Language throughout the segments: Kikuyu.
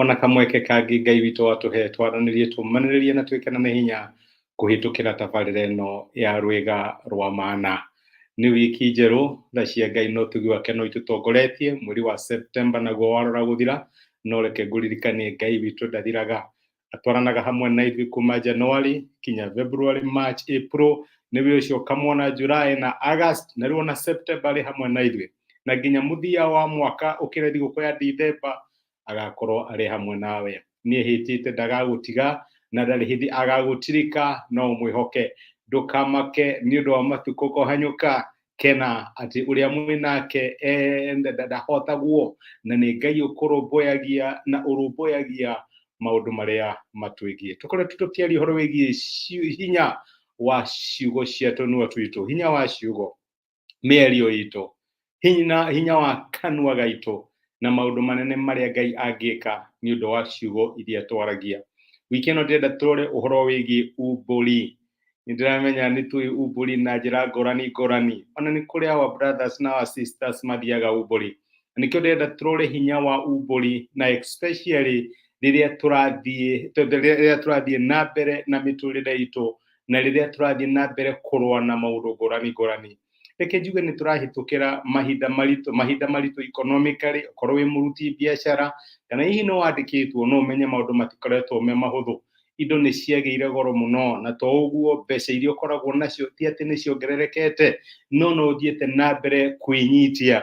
ona kamweke kangĩ ngai witũ watũhe twaranĩrie tũmanĩrĩrie na twĩkana nĩ hinya kũhĩtũkĩra tabarĩra ĩno ya rwĩga rwa mana nĩ wiki njerũ tha cia ngai no tugi wake no itũtongoretie mweri wa septemba naguo warora gũthira no reke ngũririkanie ngai witũ ndathiraga atwaranaga hamwe na ithuĩ kuma januari kinya february march april nĩ wĩ ũcio ũkamwona july na august na rĩu ona septemba arĩ hamwe na ithuĩ na nginya mũthia wa mwaka ũkĩra thigũkũ ya ndithemba agakorwo arĩ hamwe nawe nĩ hĩtĩte ndagagũtiga na ndarĩ hĩndĩ agagũtirika no mwĩhoke ndũkamake nĩ ũndũ wa matukũ kũhanyũka kena atĩ ũrĩa mwĩ nake eh, nda- nda- ndahotagwo na nĩ ngai ũkũrũmbũyagia na ũrũmbũyagia maũndũ marĩa matwĩgiĩ tũkoretwo tũkĩaria ũhoro wĩgiĩ ciu- hinya wa ciugo cia tũnua twitũ hinya wa ciugo mĩario itũ hinya, hinya wa kanua gaitũ na maũndũ manene marĩa ngai angĩka nĩ ũndũ wa ciugo iria twaragia wiki ĩno ndĩrenda tũrore ũhoro wĩgiĩ umbũri nĩ ndĩramenya nĩ tũĩ umbũri na njĩra ngũrani ngũrani ona nĩ kũrĩ our brothers na our sisters mathiaga umbũri nĩkĩo ndĩrenda tũrore hinya wa umbũri na especially rĩrĩa tũrathiĩ rĩrĩa tũrathiĩ na mbere na mĩtũrĩre itũ na rĩrĩa tũrathiĩ na mbere kũrũa na maũndũ ngũrani ngũrani reke njuge nĩ tũrahĩtũkĩra mahinda maritũ mahinda maritũ economically okorwo wĩ mũruti biacara kana hihi nĩ wandĩkĩtwo no ũmenye maũndũ matikoretwo me mahũthũ indo nĩ ciagĩire goro mũno na to ũguo mbeca iria ũkoragwo nacio ti atĩ nĩ ciongererekete no no ũthiĩte na mbere kwĩnyitia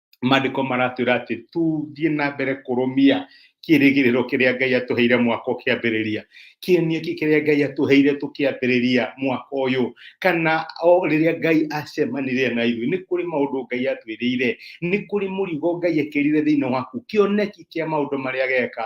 maandĩko maratwĩra atĩ tũthiĩ na mbere kũrũmia kĩrĩgĩrĩro kĩrĩa ngai atũheire mwaka ũkĩambĩrĩria kĩonia kĩ kĩrĩa ngai atũheire tũkĩambĩrĩria mwaka ũyũ kana o rĩrĩa ngai acemanirie na ithuĩ nĩ kũrĩ maũndũ ngai atwĩrĩire nĩ kũrĩ mũrigo ngai ekĩrire thĩinĩ waku kĩoneki kĩa maũndũ marĩa geka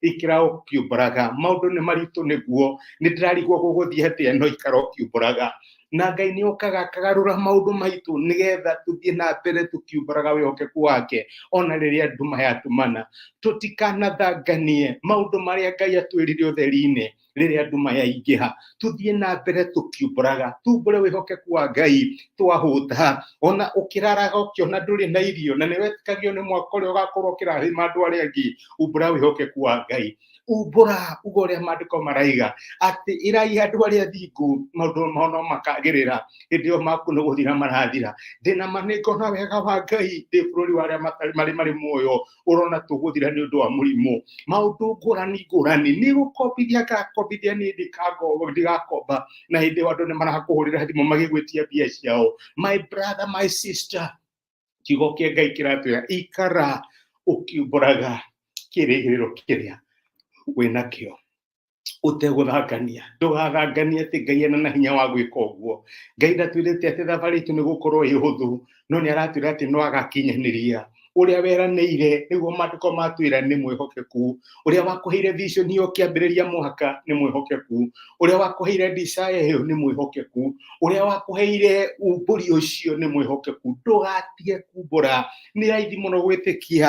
ikira ukiumburaga maundu ni maritu niguo ni ndirarigwo guguthie hati eno ikara ukiumburaga na ngai ni okaga akagarura maundu maitu nigetha tuthie na mbere tukiumburaga wihokeku wake ona riria nduma yatumana tutikanathanganie maundu maria ngai atwirire utheri-ini rĩrĩa andũ mayaingĩha tuthiĩ na mbere tũkiumbũraga tumbũre wĩhokeku wa ngai twahũta ona ũkĩraraga ũkĩona ndũrĩ na irio na nĩ wetĩkagio nĩ mwaka ũrĩa ũgakorwo ũkĩrahĩma andũ arĩa angĩ umbũra wĩhokeku wa ngai umbũra uga ũrĩa maandĩko maraiga atĩ ĩrai andũ arĩa athingu maũndũ mao no makagĩrĩra hĩndĩ ĩyo maku nĩ gũthira marathira ndĩna manĩngo na wega wa ngai ndĩ bũrũri wa arĩa matarĩ- marĩ marĩ muoyo urona tuguthira ni undu wa murimu maundu ngurani ngurani ni gukombithia ngakombithia ni ndikango ndigakomba na hindi io andu ni marakuhurira thimu magigwitia mbia ciao my brother my sister kiugo kia ngai kiratwira ikara ukiumburaga kirigiriro kiria winakio ũtegũthangania ndũgathanganie atĩ ngai ena na hinya wa gwĩka ũguo ngai ndatwĩrĩte atĩ thabarĩ itũ nĩ gũkorwo ĩ hũthũ no nĩ aratwĩra atĩ no agakinyanĩria ũrĩa weranĩire nĩguo maandĩko matwĩra nĩ mwĩhokeku ũrĩa wakũheire vision ĩyo kĩambĩrĩria mwaka nĩ mwĩhokeku ũrĩa wakũheire desire ĩyo nĩ mwĩhokeku ũrĩa wakũheire umbũri ũcio nĩ mwĩhokeku ndũgatige kumbũra nĩ raithi mũno gwĩtĩkia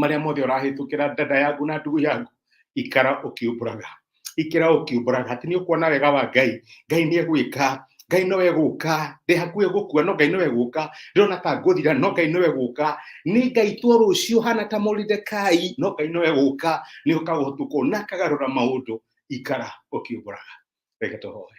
marĩa mothe ũrahĩtũkĩra ndada yaku na ndugu yaku ikara ũkiumbũraga ikira ũkiumbũraga atĩ nĩ ũkuona wega wa ngai ngai nĩ egwĩka ngai nowe gũka ndĩ hakuhĩ gũkua no ngai nowe gũka ndĩrona ta ngũthira no ngai nowe gũka nĩ ngai tuo rũciũ hana ta moridekai no ngai nowe gũka nĩ ũkaga ũtukũ na akagarũra maũndũ ikara ũkiumbũraga reke tũhoe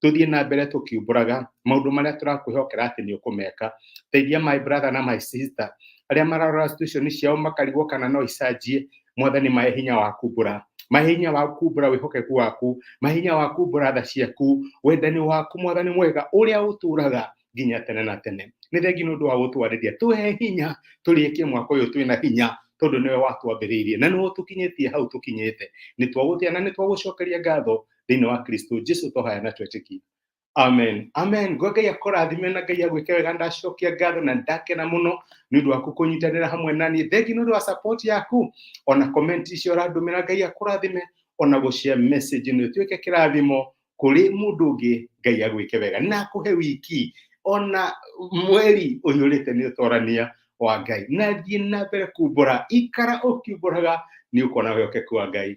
tuthiĩ na mbere tũkiumbũraga maũndũ marĩa tũrakwĩhokera atĩ nĩ ũkũmeka teithia my brother na my sister arĩa mararora situation ciao makarigwo kana no icanjie mwathani mahe hinya wa kumbũra mahe hinya wa kumbũra wĩhokeku waku mahe hinya wa kumbũra tha ciaku wendani waku mwathani mwega ũrĩa ũtũraga nginya tene na tene nĩ thengi nĩ ũndũ wa gũtwarĩria tũhe hinya tũrĩkie mwaka ũyũ twĩna hinya tondå nä we watwambä na nä we å tå kinyä tie hau tå kinyä te nä twagå tä na nä twagå cokeria ngatho thĩinĩ wa kristo jesu tũhoya na twetĩkia amen amen ngo ngai akũrathime na ngai agwĩke wega ndacokia ngatho na ndakena mũno nĩ ũndũ waku kũnyitanĩra hamwe nani thengi nĩ ũndũ wa support yaku ona komenti icio ũrandũmĩra ngai akũrathime ona gũcia message nĩ ũtuĩke kĩrathimo kũrĩ mũndũ ũngĩ ngai agwĩke wega na akũhe wiki ona mweri ũyũ ũrĩte nĩ ũtorania wa ngai na thiĩ na mbere kumbũra ikara ũkiumbũraga nĩ ũkuona wĩhokeku wa ngai